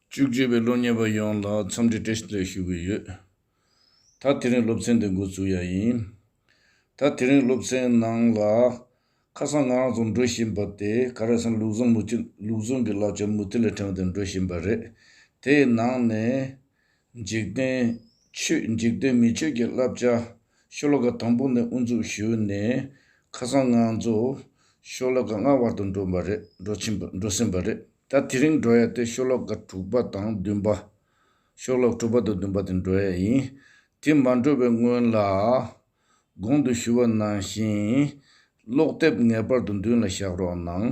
བཅུ་བཅུ་པའི་སློབ་གཉེར་བ་ཡོངས་ལ་འཚམས་འདྲི་བཀྲ་ཤིས་བདེ་ལེགས་ཞུ་གི་ཡོད། ད་དེ་རིང་སློབ་ཚན་འདི་འགོ་བཙུགས་ཡ་ཡིན། ད་དེ་རིང་སློབ་ཚན་ནང་ལ། ཁ་སང་ང་རང་ཚོ་འགྲོ་བཞིན་པ་དེ་ག་རེ་ཟིན་ལུགས་ཟུང་མུ་ལུགས་ཟུང་གི་ལག་ཆ་མུ་ཏིག་ལ་དྲངས་ཏེ་འགྲོ་བཞིན་པ་རེད། དེའི་ནང་ནས། འཇིག་རྟེན། ཆོས་འཇིག་རྟེན་མི་ཆོས་ཀྱི་བསླབ་བྱ། ཤློ་ཀ་དང་པོ་ནས་དབུ་འཛུགས་ཞུས་ནས་ཁ་སང་ངང་རྫོགས། ཤློ་ཀ་ལྔ་བར་དུ་འགྲོ་བ་རེད་འགྲོ་ཕྱིན་པ་འགྲོ་ཟིན་པ་རེད། ད་དེ་རིང་འགྲོ་ཡ་དེ་ཤློ་ཀ་དྲུག་པ་དང་བདུན་པ། ཤློ་ཀ་དྲུག་པ་དང་བདུན་པ་དེ་འགྲོ་ཡ་ཡིན། དེ་མ་འགྲོ་བའི་སྔོན་ལ། གོང་དུ་ཞུ་བ་ནང་བཞིན། ཀློག་དེབ་ངེས་པར་དུ་མདུན་ལ་བཞག་རོགས་གནང།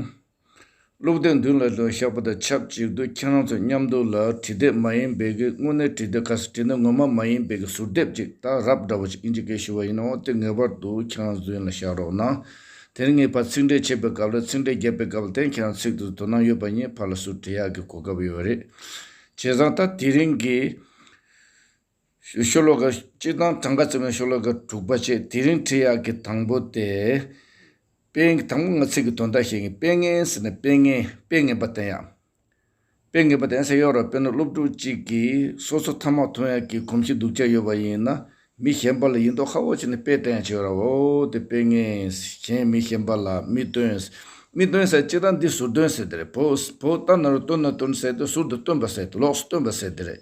སློབ་དེབ་མདུན་ལ་ལྷོད་ཤག་པོ་དང་ཆབས་ཅིག་ཏུ་ཁྱེད་རང་ཚོ་མཉམ་འདུག་ལ་བྲིས་དེབ་མ་ཡིན་པའི་གི་དངོས་གནས་བྲིས་དེབ་ཁ་སང་བྲིས་ན་ངོ་མ་མ་ཡིན་པའི་གི་ཟུར་དེབ་ཅིག་ད་རབ་འདྲ་བོ་ཅིག་ཨིན་ཇི་སྐད་ཞུ་བ་ཡིན་ནའང་དེ་ངེས་པར་དུ་ཁྱེད་རང་ཚོའི་མདུན་ལ་བཞག་རོགས་གནང། དེར་ངེས་པར་ཚིག་འགྲེལ་བྱེད་པའི་སྐབས་ལ་ཚིག་འགྲེལ་རྒྱབ་པའི་སྐབས་ལ་དེང་ཁྱེད་རང་ཚིག་ཏུ་དོ་སྣང་ཡོད་པ་གཉིས་བར་ལ་ཟུར་བྲིས་ཡག་གི་གོ་སྐབས་ཡོད་རེད། བྱས་ཙང་ད་དེ་རིང་གི། ཤོ་ལོ་ཀ་གཅིག་དང་གྲངས་ཀ་བཅུ་མའི་ཤོ་ལོ་ཀ་དྲུག་པ་བཅས་དེ་རིང་ཁྲིད་ཡག་གི་དང་པོ་སྟེ། དཔེ་དང་པོ་ངོ་ཚིག་གི་དོན་དག་ཤེས་ངེས་དཔེ་ངན་ཟེར་ནས་དཔེ་ངན་དཔེ་ངན་པ་བསྟན་ཡག་དཔེ་ངན་པ་བསྟན་ས་ཡོད་རེད་དཔེར་ན་སློབ་ཕྲུག་གཅིག་གིས་སོ་སོ་ཐ་མག་འཐུང་ཡག་གི་གོམས་གཤིས་སྡུག་ཅག་ཡོད་པ་ཡིན་ན་མི་གཞན་པ་ལ་ཡིན་མདོག་ཧ་བོ་བྱས་ནས་དཔེ་བསྟན་ཡག་བྱེད་རོགས་འོ་དེ་དཔེ་ངན་གཞན་མི་གཞན་པ་ལ་མི་སྟོན་མི་སྟོན་ཟེར་གཅིག་དང་འདི་ཟུར་སྟོན་ཟེར་དེ་རེད་བོད་བོད་ལྟར་ན་རུ་སྟོན་ན་སྟོན་ཟེར་ཏེ་ཟུར་དུ་སྟོན་པ་ཟེར་ཏེ་ལོགས་སུ་སྟོན་པ་ཟེར་དེ་རེད།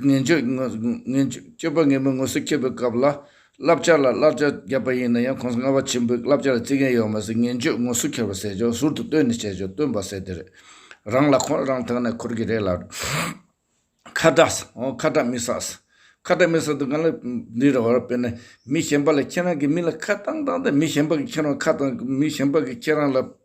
ངན་སྤྱོད་པ་ངན་པའི་ངོ་སོ་ཁྱེར་བའི་སྐབས་ལ་བསླབ་བྱ་ལ་བསླབ་བྱ་བརྒྱབ་པ་ཡིན་ན་ཡང་ཁོང་སྔ་བ་ཆེན་པོས་བསླབ་བྱ་ལ་བརྩི་མཁན་ཡོད་མ་ཟད་ངན་སྤྱོད་ངོ་སོ་ཁྱེར་བ་ཟེར་ཆོག་ཟུར་དུ་བཏོན་ནས་བྱས་ཆོག་སྟོན་པ་ཟེར་དེ་རེད། རང་ལ་ཁོག་རང་ཐག་ནས་འཁོར་གྱི་རེད་ལགས། ཁ་གྲགས། ཁ་གྲགས་མི་ཟ། ཁ་གྲགས་མི་ཟ་དུ་ག་ལ་འདི་རེད་བར་དཔེར་ན་མི་གཞན་པ་ལ་ཁྱེད་རང་གི་མི་ལ་ཁ་བཏང་བཏང་སྟེ་མི་གཞན་པ་གི་ཁྱེད་རང་ཁ་བཏང་མི་གཞན་པ་གི་ཁྱེད་རང་ལ་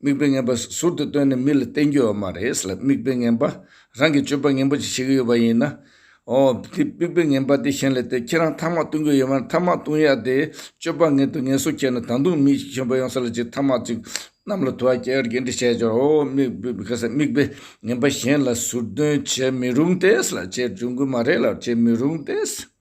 དམིགས་པའི་ངན་པ་ཟུར་དུ་བཏོན་ནས་མི་ལ་བསྟན་རྒྱུ་ཡོད་མ་རེད་ལ་དམིགས་པའི་ངན་པ་རང་གི་སྤྱོད་པ་ངན་པོ་ཅིག་བྱེད་ཀྱི་ཡོད་པ་ཡིན་ན། ཨོ། དེ་དམིགས་པའི་ངན་པ་དེ་གཞན་ལས་དེ་ཁྱེད་རང་ཐ་མག་བཏུང་གི་ཡོད་མ་རེད་ཐ་མག་བཏུང་ཡ་དེ་སྤྱོད་པ་ངན་དུ་ངན་སོ་ཁྱེར་ནས་ད་དུང་མི་ཞིག་གཞན་པ་ཡོང་ས་ལ་ཅིག་ཐ་མག་ཅིག་གནམ་ལ་དུ་བ་ཁྱེར་གྱིས་འདྲི་བྱས་ཀྱང་ཨོ། དམིགས་པའི་ངན་པ་གཞན་ལ་ཟུར་འདོན་བྱེད་མི་རུང་སྟེ་ལ་བྱེད་འཇུག་གི་མ་རེད་ལ་བྱེད་མི་རུང་སྟེ།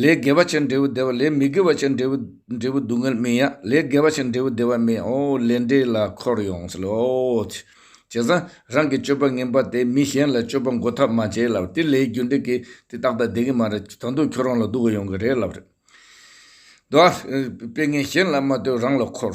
ལས་དགེ་བ་ཅན་འབྲས་བུ་བདེ་བ་ལས་མི་དགེ་བ་ཅན་འབྲས་བུ་འབྲས་བུ་སྡུག་བསྔལ་སྨིན་ཡང་ལས་དགེ་བ་ཅན་འབྲས་བུ་བདེ་བ་སྨིན་ཨོ་ལས་འབྲས་ལ་འཁོར་ཡོང་ཟེར་ལོ་ཨོ། བྱས་ཙང་རང་གི་སྤྱོད་པ་ངན་པ་དེས་མི་གཞན་ལ་སྤྱོད་པ་འགོ་ཐབས་མ་བྱས་ལབ་དེ་ལས་རྒྱུ་འབྲས་ཀྱི་དེ་རྟག་ད་བདེ་གི་མ་རེད་ད་དུང་ཁྱོད་རང་ལ་སྡུག་གི་ཡོང་གི་རེད་ལབ་རེད། དཔེ་ངན་གཞན་ལ་མ་ལྟོས་རང་ལ་འཁོར།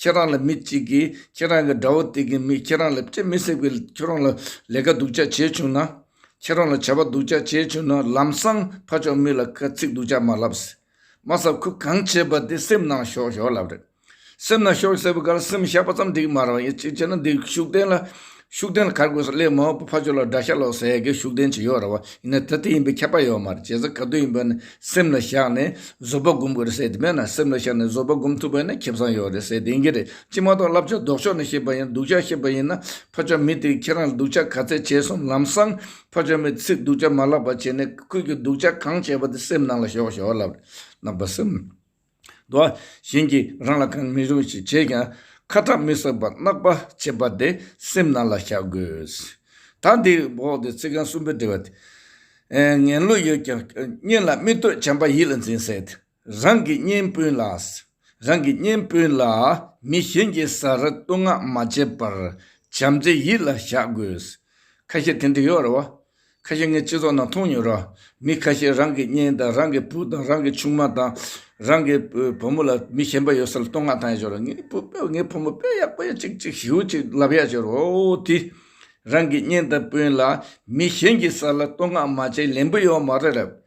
ཁྱེད་རང་ལ་མི་གཅིག་གིས་ཁྱེད་རང་གི་དགྲ་བོ་དེ་གི་མིས་ཁྱེད་རང་ལ་ཅི་མི་སྲིད་པའི་ཁྱེད་རང་ལ་ལས་ཀ་སྡུག་ཅག་བྱས་བྱུང་ན། ཁྱེད་རང་ལ་བྱ་བ་སྡུག་ཅག་བྱས་བྱུང་ན་ལམ་སང་ཕ་ཅོག་མི་ལ་ཁ་ཚིག་སྡུག་ཅག་མ་ལབ། སྲིད་མ་ས་ཁུ་གང་བྱས་པ་དེ་སེམས་ནང་ཞོག་ཞོག་ལབ་རེད། སེམས་ནང་ཞོག་ཟེར་བའི་སྐར་སེམས་བཤགས་པ་ཙམ་འགྲིག་མ་རང་ཡིན་གཅིག་བྱས་ན་འདི་ཤུགས་ལྡན་ལ་ཤུགས་ལྡན་གར་དགོས་ས་ལས་མང་པོ་ཕར་ཕྱོགས་ལ་དགྲ་ཤ་ལོག་ཟེར་མཁན་ཤུགས་ལྡན་ཅིག་ཡོད་ར་བ་ཡིན་ན་ད་དེ་ཡིན་པའི་ཁྱབ་པ་ཡོད་མ་རེད་བྱས་ཙང་ག་དུས་ཡིན་པ་ནི་སེམས་ལ་བཞག་ནས་བཟོད་པ་སྒོམ་དགོས་རེད་ཟེར་དེ་མེད་ན་སེམས་ལ་བཞག་ནས་བཟོད་པ་སྒོམ་ཐུབ་པ་ནི་ཁེ་བཟང་ཡོད་རེད་ཟེར་དེ་ཡིན་གྱི་རེད་ཅི་མ་གཏོགས་བསླབ་བྱ་ལྡོག་ཕྱོགས་ནས་བཤད་པ་ཡིན་སྡུག་ཅག་བཤད་པ་ཡིན་ན་ཕར་ཕྱོགས་མི་དེས་ཁྱེད་རང་ལ་སྡུག་ཅག་ག་ཚད་བྱས་སོང་ལམ་སང་ཕར་ཕྱོགས་མི་ཚིག་སྡུག་ཅག་མ་ལབ་པ་བྱས་ནས་ཁོས་ཀྱིས་སྡུག་ཅག་གང་བྱས་པ་དེ་སེམས་ནང་ལ་ཞོག་ཞོག་ལབ་རེད་ནག་པ་སེམས། དུ་བ་བཞིན་གྱིས་རང་ལ་གང་མི་རུང་ཞིག་བྱས་ཀྱང་ཁ་ཐག་མི་སོད་པར་བརྣག་པ་བྱེད་པ་དེ་སེམས་ནང་ལ་བཞག་དགོས། ད་འདི་འོག་ཏུ་ཚིག་རྐང་གསུམ་པོ་འདི་བ། ངན་བློ་ཡོད་ཀྱང་གཉེན་ལ་སྨིན་གཏོད་བྱམས་པ་ཡིད་ལ་འཛིན་བསད་དེ། རང་གི་གཉེན་སྤུན་ལ། རང་གི་གཉེན་སྤུན་ལ་མི་གཞན་གྱི་ཟ་ར་བསྟོད་བསྔགས་མ་བྱེད་པར་བྱམས་བརྩེ་ཡིད་ལ་བཞག་དགོས། ཁ་ཤས་དེ་འདྲ་ཡོད་རེད་བ། ཁ་ཤས་ངའི་སྤྱི་ཚོགས་ནང་མཐོང་མྱོང་རང། མི་ཁ་ཤས་རང་གི་གཉེན་དང་རང་གི་བུ་དང་རང་གི་ཆུང་མ་དང། རང་གི་བུ་མོ་ལ་མི་ཞན་པ་ཡོད་ས་ལ་བསྟོད་བསྔགས་བཏང་ཡག་ཤོར་ར། ངའི་བུ་དཔེ་ངའི་བུ་མོ་དཔེ་ཡག་པོ་ཡག་ཅིག་ཅིག་ཞེའུ་ཅིག་ལབ་ཡག་ཤོར་ཨོ་དེ། རང་གི་གཉེན་དང་སྤུན་ལ་མི་གཞན་གྱི་ས་ལ་བསྟོད་བསྔགས་མ་བྱེད་ལན་བུ་ཡོད་མ་རེད་རབས།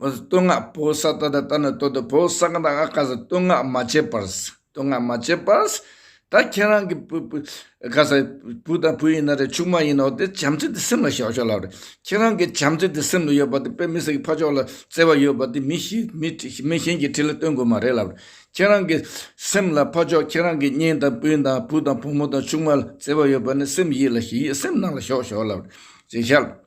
བསྟོད་བསྔགས་བོ་ས་ཏྭ་དང་ཏྭ་ནི་བསྟོད་དོ་བོ་ས་ཀ་དང་ཨ་ཀ་ཟི་བསྟོད་བསྔགས་མ་བྱེད་པར། བསྟོད་བསྔགས་མ་བྱེད་པར། ད་ཁྱེད་རང་གི་བུ་བུ་ཀ་ཟི་བུ་དང་བུ་ཡིན་ན་རེ་ཕྱུགས་མ་ཡིན་ན་འོ་དེ་བྱམས་བརྩེ་དེ་སེམས་ལ་བཞག་ཆོག་ལབ་རེ། ཁྱེད་རང་གི་བྱམས་བརྩེ་དེ་སེམས་ལ་ཡོད་པ་དེ་དཔེ་མི་སེར་གྱི་ཕ་ཕྱོགས་ལ་བརྩེ་བ་ཡོད་པ་དེ་མི་ཞིག་མི་མི་གཞན་གྱི་ཁྲི་ལ་བསྟོད་དགོས་མ་རེད་ལབ་རེ། ཁྱེད་རང་གི་སེམས་ལ་ཕ་ཕྱོགས་ཁྱེད་རང་གི་གཉེན་དང་སྤུན་དང་བུ་དང་བུ་མོ་དང་ཆུང་མ་ལ་བརྩེ་བ་ཡོད་པ་ནི་སེམས་ཡིད་ལ་ཞི་ཡིད་སེམས་ནང་ལ་ཞོག་ཞོག་ལབ་རེ། ཞེས་བྱ།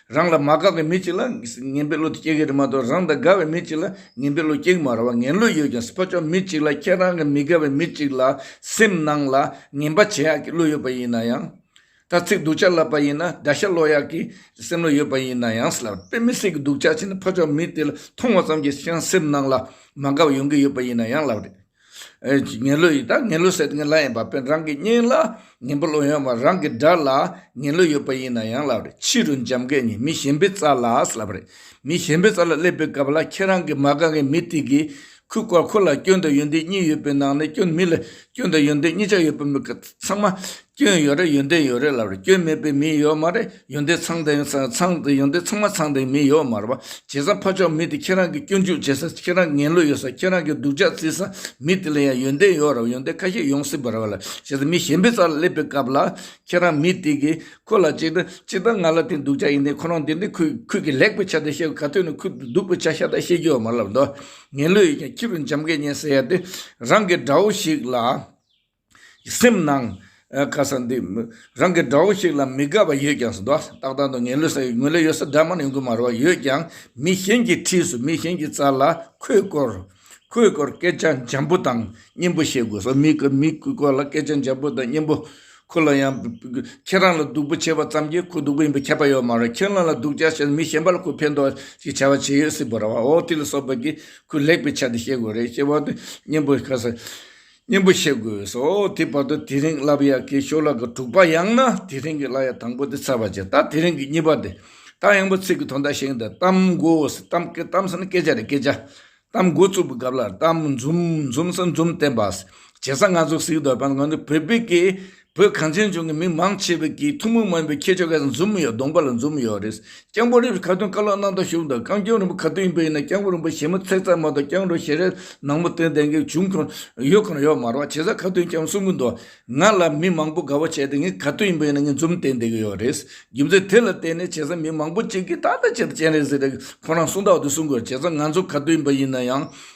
རང་ལ་མ་དགའ་བའི་མི་གཅིག་ལ་ངན་པའི་བློ་དེ་སྐྱེ་གི་རེད་མ་གཏོགས་རང་དང་དགའ་བའི་མི་གཅིག་ལ་ངན་པའི་བློ་སྐྱེ་གི་མ་རེད་བ་ངན་བློ་ཡོད་ཀྱང་སྤོ་ཆོག་མི་གཅིག་ལ་ཁྱེད་རང་གི་མི་དགའ་བའི་མི་གཅིག་ལ་སེམས་ནང་ལ་ངན་པ་བྱེད་ཡག་གི་བློ་ཡོད་པ་ཡིན་ན་ཡང། ད་ཚིག་སྡུག་ཆགས་ལབ་པ་ཡིན་ན་དགྲ་ཤ་སློག་ཡག་གི་སེམས་བློ་ཡོད་པ་ཡིན་ན་ཡང་སླ་པའི་མི་སེར་གི་སྡུག་ཆགས་བྱས་ན་སྤོ་ཆོག་མི་དེ་ལ་མཐོང་བ་ཙམ་གྱིས་ཀྱང་སེམས་ནང་ལ་མ་དགའ་བ་ཡོང་གི་ཡོད་པ་ཡིན་ན་ཡང་སླ་བ་རེད། ངན་ལོས་ཡིན་ད་ངན་ལོས་ཟེར་ངན་ལ་ཡིན་པ་དཔོན་རང་གི་སྙིང་ལ་ངན་པོ་ལོས་ཡོང་བ་རང་གི་དགྲ་ལ་ངན་ལོས་ཡོད་པ་ཡིན་ན་ཡང་ལབ་རེད་ཕྱི་རུ་འཇམ་མཁས་ཉིད་མི་གཞན་པའི་རྩ་ལགས་ལབ་རེད་མི་གཞན་པའི་རྩ་ལ་སླེབས་པའི་སྐབས་ལ་ཁྱེད་རང་གི་མ་རྐང་གི་མི་དེ་གིས་ཁུ་བསྐོར་ཁོ་ལ་སྐྱོན་དང་ཡོན་ཏན་གཉིས་ཡོད་པའི་ནང་ནས་སྐྱོན་མི་ལ་སྐྱོན་དང་ཡོན་ཏན་གཉིས་ཆ་ཡོད་པ་མི་ཚང་མ་སྐྱོན་ཡོད་རེད་ཡོན་ཏན་ཡོད་རེད་ལབ་རེད་སྐྱོན་མེད་པའི་མི་ཡོད་མ་རེད། ཡོན་ཏན་ཚང་དེ་ཚང་དེ་ཡོན་ཏན་ཚང་མ་ཚང་དེ་མི་ཡོད་མར་བ་བྱེད་ས་ཕ་ཕྱོགས་མི་དེ་ཁྱེད་རང་གི་སྐྱོན་འཇུག་བྱེད་ས་ཁྱེད་རང་གི་ངན་ལོས་ཡོད་ས་ཁྱེད་རང་གི་སྡུག་ཅག་རྩི་ས་མི་དེ་ལ་ཡང་ཡོན་ཏན་ཡོད་ར་བ་ཡོན་ཏན་ཁ་ཤས་ཡོང་སྲིད་པར་བ་ལ་བྱེད་ས་མི་གཞན་པའི་རྩ་ལ་སླེབས་པའི་སྐབས་ལ་ཁྱེད་རང་མི་དེ་གིས་ཁོ་ལ་ཅིག་ཅིག་ད་ང་ལ་དེ་སྡུག་ཅག་ཡིན་ཏེ་ཁོ་རང་དེ་འདི་ཁུལ་ཁུལ་གྱི་ལེགས་པའི་ཆ་དེ་བཤད་དགོས་ག་དུས་ན་ཁུལ་སྡུག་པའི་ཆ་ཤ་སྟག་བཤད་རྒྱུ་ཡོད་མ་ལབ་དོ། ངན་ལོས་ཡོད་ཀྱང་ཁྱི་རུ་འཇམ་སྐད་ཉན་ཟེར་ཡ་དེ་རང་གི་དགྲ་བོ་ཞིག་ལ། སེམས་ནང། ཁ་ས་འདི། རང་གི་དགྲ་བོ་ཞིག་ལ་མི་དགའ་བ་ཡོད་ཀྱང་ཟློག། ཏག་ཏག་ཏུ་ངན་ལོས་ས་ཡོད་ངོས་ལེ་ཡོད་ས་དགྲ་དམར་ཡོང་གི་མ་རེད་བ་ཡོད་ཀྱང་མི་གཞན་གྱི་འཁྲིས་སུ་མི་གཞན་གྱི་རྩ་ལ་ཁོས་བསྐོར། ཁོས་བསྐོར་སྐད་ཆ་འཇམ་པོ་དང་སྙན་པོ་བཤད་དགོས་སོ་མི་མི་བསྐོར་ལ་སྐད་ཆ་འཇམ་པོ་དང་སྙན་པོ། ཁོ་ལ་ཡང། ཁྱེད་རང་ལ་སྡུག་པོ་བྱས་པ་ཙམ་གྱིས་ཁོ་སྡུག་པོ་ཡིན་པ་ཁྱད་པ་ཡོད་མ་རེད་ཁྱེད་རང་ལ་སྡུག་ཅག་བྱས་ན་མི་གཞན་པ་ལ་ཁོས་ཕན་ཐོག་ཅིག་བྱ་བ་བྱས་ཡོད་སྲིད་པ་རེད་བ་འོ་དེ་ལ་སོགས་པ་གྱིས་ཁོས་ལེགས་པའི་ཆ་དེ་བཤད་དགོས་རེད་ཅེས་པ་དེ་སྙན་པོ་ཁ་ས། སྙན་པོ་བཤད་དགོས་སོ། དེའི་བར་དུ་དེ་རིང་ལབ་ཡ་གའི་ཤོ་ལག་གི་དྲུག་པ་ཡང་ན་དེ་རིང་གི་བླ་ཡ་དང་པོ་དེ་ཚར་བར་བྱས། ད་དེ་རིང་གི་གཉིས་པ་དེ། ད་ཡང་པོ་ཚིག་གི་དོན་དག་ཤིང་དང་གཏམ་མགོ་ཟེར། གཏམ་སྐད་གཏམ་ཟེར་ན་སྐད་ཆ་རེད་སྐད་ཆ། གཏམ་མགོ་བཙུགས་པའི་སྐབས་ལ་གཏམ་འཛུམ་འཛུམ་ཟེར་འཛུམ་བསྟན་པ། བྱས་ཙང་ང་ཚོ་གཟིགས་འདོད་པ་ནི་ང་ཚོ་བོད་སྤེལ་གྱི་བོད་གངས་ཅན་ལྗོངས་ཀྱི་མི་མང་ཆེ་བས་ཀྱིས་ཐུན་མོང་མ་ཡིན་པའི་ཁྱད་ཆོས་ཁ་ཟས་འཛོམས་ཡོད་གདོང་པ་ལ་འཛོམས་ཡོད་རེད། སྐྱང་པོ་རིགས་ཀྱི་ཁ་ཏོན་ཀ་ལོག་གནང་སྟངས་ཤུགས་དང་རྐང་སྐྱོན་རིང་པོ་ག་དུས་ཡིན་པ་ཡིན་ན་སྐྱང་པོ་རིན་པོ་ཞེས་མོ་ཚེག་ཚག་མ་གཏོགས་སྐྱང་རོ་ཞེས་རས་ནག་མོ་སྟོན་ལྡན་གྱི་བྱུང་ཁོ་ཡོད་ཁོ་ན་ཡོད་མ་རོག་བྱས་ཙང་ཁ་ཏོན་ཀྱང་གསུང་གི་འདུག་ང་ལ་མི་མང་པོ་དགའ་བོ་བྱས་ཏེ་ངས་ག་དུས་ཡིན་པ་ཡིན་ན་ངས་འཛོམས་སྟེ་བསྡད་ཀྱི་ཡོད་རེད། རྒྱུ་མཚན་དེ་ལ་བརྟེན་ནས་བྱས་ཙང་མི་མང་པོ་གཅིག་གིས་ད་ལྟ་བྱས་ཏེ་སྤྱན་རས་གཟིགས་རེད་ཁོ་རང་གསུང་དག་དུས་གསུང་དགོས་རེད་བྱས་ཙང་ང་ཚོ་ག་དུས་ཡིན་པ་ཡིན་ན་ཡང་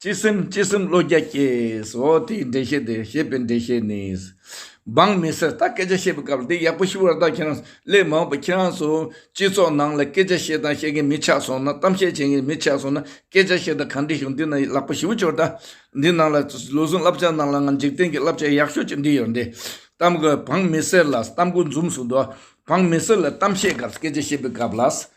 སྤྱི་སེམས་སྤྱི་སེམས་བློ་རྒྱ་སྐྱེས། ཨོ་དེའི་འགྲེལ་བཤད་དེ་ཞེས་པའི་འགྲེལ་བཤད་ནི། འབངས་མི་སེར་ད་སྐད་ཆ་བཤད་པའི་སྐབས་འདི་ཡག་པོ་ཞུ་བར་བདག་ཁྱེད་རང་ལས་མ་འོངས་པ་ཁྱེད་རང་ཚོ་སྤྱི་ཚོགས་ནང་ལ་སྐད་ཆ་བཤད་དང་བཤད་མཁན་མི་ཆགས་སོང་ན་གཏམ་བཤད་བྱེད་མཁན་མི་ཆགས་སོང་ན་སྐད་ཆ་བཤད་དང་གང་འགྲིག་ཞུ་འདི་ན་ལག་པ་ཞིབ་བྱོས་ད་འདི་ནང་ལ་ལུས་ཟུངས་བསླབ་བྱ་ནང་ལ་ང་འཇིག་རྟེན་གྱི་བསླབ་བྱ་ཡག་ཤོས་ཅིག་འདི་ཡོད་འདི་གཏམ་གོ་འབངས་མི་སེར་ལ་གཏམ་གོ་འཛུམ་ཟུག་འདུག་འབངས་མི་སེར་ལ་གཏམ་བཤད་སྐབས་སྐད་ཆ་བཤད་པའི་སྐབས་ལ།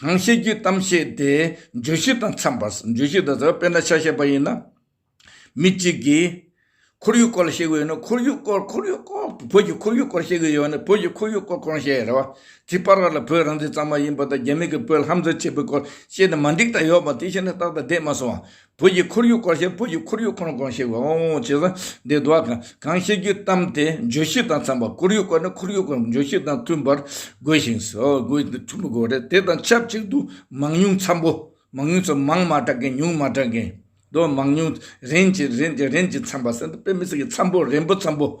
གང་བཤད་རྒྱུའི་གཏམ་བཤད་དེ་བརྗོད་གཞི་དང་འཚམས་པ་བརྗོད་གཞི་དང་འཚམས་པ་དཔེར་ན་ཆ་བཤད་པ་ཡིན་ན། མི་གཅིག་གིས་ཁོར་ཡུག་སྐོར་ལ་བཤད་གི་ཡོད་ན་ཁོར་ཡུག་སྐོར་ཁོར་ཡུག་སྐོར་བོད་ཀྱི་ཁོར་ཡུག་སྐོར་བཤད་གི་ཡོད་ན་བོད་ཀྱི་ཁོར་ཡུག་སྐོར་ཁོ་རང་བཤད་ཡ་རེད་བ། དེ་པར་བ་ལ་བོད་རང་བཙན་གཙང་མ་ཡིན་པ་དང་རྒྱ་མི་གིས་བོད་ལྷམ་འཛིན་བྱས་པའི་སྐོར་བཤད་ན་མ་འགྲིག་ད་ཡོད་པ་དེ་བཤད་ན་རྟག་ཏུ་བསྡད་མ་སོང་བ། བོད་ཀྱི་ཁོར་ཡུག་སྐོར་ཞེས་བོད་ཀྱི་ཁོར་ཡུག་ཁོ་ན་གང་ཞིག་འོང་འོང་བྱེད་ས་འདི་བདུག་ཨ། གང་བཤད་རྒྱུའི་གཏམ་དེ་བརྗོད་གཞི་དང་འཚམས་པར་ཁོར་ཡུག་སྐོར་ནི་ཁོར་ཡུག་སྐོར་བརྗོད་གཞི་དང་མཐུན་པར་དགོས་ཤིང། མཐུན་པར་དགོས་པ་རེད། དེ་དང་ཆབས་ཅིག་ཏུ་མང་ཉུང་འཚམ་པོ། མང་ཉུང་ཚོ་མང་མ་གྲགས་མཁན་ཉུང་མ་གྲགས་མཁན། དོ། མང་ཉུང། རིན་གྱི་རིན་གྱི་རིན་གྱི་འཚམ་པ། སེམས་དཔའ་མི་སེར་གྱི་འཚམ་པོ་རིན་པོ་འཚམ་པོ།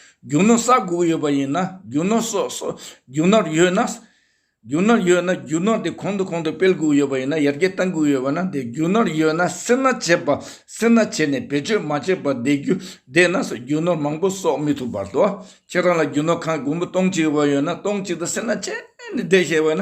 རྒྱུ་ནོར་ས་དགུ་ཡོད་པ་ཡིན་ན་རྒྱུ་ནོར་སོགས་སོ། རྒྱུ་ནོར་ཡོད་ན། རྒྱུ་ནོར་ཡོད་ན་རྒྱུ་ནོར་དེ་གོང་དུ་གོང་དུ་སྤེལ་དགུ་ཡོད་པ་ཡིན་ན་ཡར་རྒྱས་བཏང་དགུ་ཡོད་པ་ན་བདེ་རྒྱུ་ནོར་ཡོད་ན་སེར་སྣ་བྱེད་པ་སེར་སྣ་བྱས་ནས་བེད་སྤྱོད་མ་བྱས་པ་བདེ་རྒྱུ་བདེ་ན་སོགས་རྒྱུ་ནོར་མང་པོ་གསོག་མི་ཐུབ་བར་དུ། ཁྱེད་རང་ལ་རྒྱུ་ནོར་ཁང་དགུ་མོ་སྟོང་གཅིག་ཡོད་པ་ཡོད་ན་སྟོང་གཅིག་དང་སེར་སྣ་བྱས་ནས་བདེ་ཞེས་བས་ན་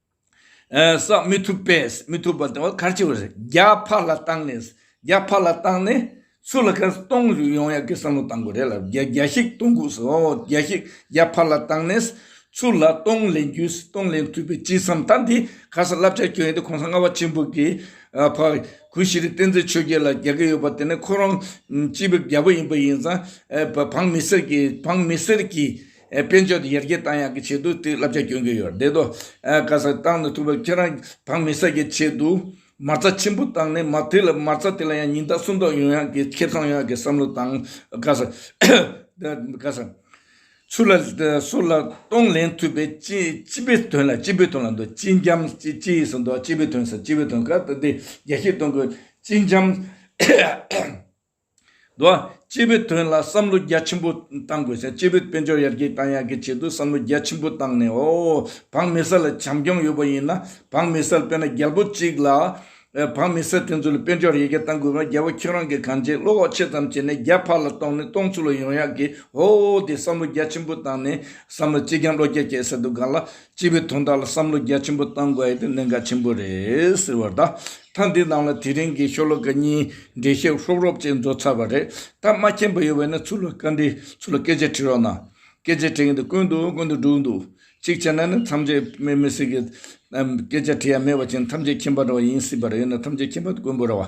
བསགས་མི་ཐུབ་པས་མི་ཐུབ་པ་དང་ཁ་ཆེ་བ་རེད་རྒྱ་ཕར་ལ་བཏང་ནས་རྒྱ་ཕར་ལ་བཏང་ནས་སུ་ལ་ཁར་སྟོང་རུ་ཡོང་ཡག་གི་བསམ་བློ་བཏང་དགོས་རེད་ལ་རྒྱ་རྒྱ་ཞིག་གཏོང་དགོས་སོ་རྒྱ་ཞིག་རྒྱ་ཕར་ལ་བཏང་ནས་སུ་ལ་སྟོང་ལེན་རྒྱུ་སྟོང་ལེན་ཐུབ་པའི་ཅི་བསམ་ད་འདི་ག་ས་བསླབ་བྱ་ཁྱོད་ཡིན་ཏེ་གོང་ས་ལྔ་བ་ཆེན་པོ་གི་ཕ་གུ་ཤྲི་བསྟན་འཛིན་ཆོས་རྒྱལ་ལ་རྒྱག་གི་ཡོད་པ་དེ་ནི་ཁོ་རང་སྤྱི་བའི་རྒྱལ་པོ་ཡིན་པ་ཡིན་ཙང་བང་མི་སེར་གྱི་བང་མི་སེར་གྱི་དཔལ་འབྱོར་ཡར་རྒྱས་གཏང་ཡག་གི་ཆེད་དུ་དེ་བསླབ་བྱ་སྐྱོན་གྱི་ཡོད་རེད་དོ། ག་ས་གཏང་མི་ཐུབ་པར་ཁྱེད་རང་བག་མི་བསད་ཀྱི་ཆེད་དུ། མ་རྩ་ཆེན་པོ་བཏང་ནས་མ་དེ་ལ་མ་རྩ་དེ་ལ་ཡང་ཉིན་རྟག་སུམ་རྟོག་ཡོང་ཡག་གི་ཁེ་ཚང་ཡོང་ཡག་གི་བསམ་བློ་བཏང། ག་ས། ག་ས། སུ་ལ། སུ་ལ་གཏོང་ལེན་ཐུབ་པའི་སྤྱི་སྤྱི་པའི་དོན་ལ་སྤྱི་པའི་དོན་ལ་འདོད་སྤྱི་འཇམ་སྤྱི་སྤྱི་ཡིས་སུ་འདོད་སྤྱི་པའི་དོན་ས་སྤྱི་པའི་དོན་ག་ད་དེ་རྒྱ་ཤེས་གཏོང་དགོས་སྤྱི་འཇམ། དུ། སྤྱི་བོའི་དོན་ལ་བསམ་བློ་རྒྱ་ཆེན་པོ་གཏང་དགོས། སྤྱི་བོའི་དཔལ་འབྱོར་ཡར་རྒྱས་གཏང་ཡག་གི་ཆེད་དུ་བསམ་བློ་རྒྱ་ཆེན་པོ་གཏང་ནས་ཨོ། བག་མེད་སེལ་ལ་བྱམས་སྐྱོང་ཡོད་པ་ཡིན་ན་བག་མེད་སེལ་དཔེར་ན་རྒྱལ་པོ་གཅིག་ལ། བག་མེད་སེལ་དེ་ཚོ་ལ་དཔལ་འབྱོར་ཡར་རྒྱས་གཏང་དགོས་པ་རྒྱལ་པོ་ཁྱོད་རང་གིས་གང་བྱས་བློ་ཁོག་ཆེ་ཙམ་བྱས་ནས་རྒྱ་ཕར་ལ་གཏོང་ནས་གཏོང་ཚུལ་ལ་ཡོང་ཡག་གི་ཨོ་དེ་བསམ་བློ་རྒྱ་ཆེན་པོ་གཏང་ནས་བསམ་ལ་སྤྱི་རྒྱམ་བློ་རྒྱ་སྐྱེད་སེལ་དུ་དགའ་ལ། སྤྱི་བའི་དོན་དག་ལ་བསམ་བློ་རྒྱ་ཆེན་པོ་གཏང་དགོས་ཨེ་དེ་གནད་འགག་ཆེན་པོ་རེད་ཟེར་བར་ད་ཐ་འདི་རྣམས་ལ་དེ་རིང་གི་ཤོ་ལོ་ཀ་གཉིས་འབྲེལ་བཤད་རོབ་རོབ་ཅིག་མཛོད་ཚར་བ་རེད་ད་སྨྲ་མཁན་པོ་ཡོད་བས་ན་ཚུར་ལ་བཀའ་འདྲི་ཚུར་ལ་སྐད་ཆ་དྲི་རོགས་གནང། སྐད་ཆ་དྲི་མཁན་དེ་དཀོན་འདུག་དཀོན་འདུག་འགྲུག་འདུག་གཅིག་བྱས་ན་ནི་ཐམས་ཅད་སྨྲས་མི་སྲིད་གི། སྐད་ཆ་དྲི་ཡ་མེད་བ་ཅན་ཐམས་ཅད་ཁྱིམ་པ་འདྲ་བ་ཡིན་སྲིད་པ་རེད་ཡིན་ན་ཐམས་ཅད་ཁྱིམ་པ་དཀོན་པོ་ར་བ།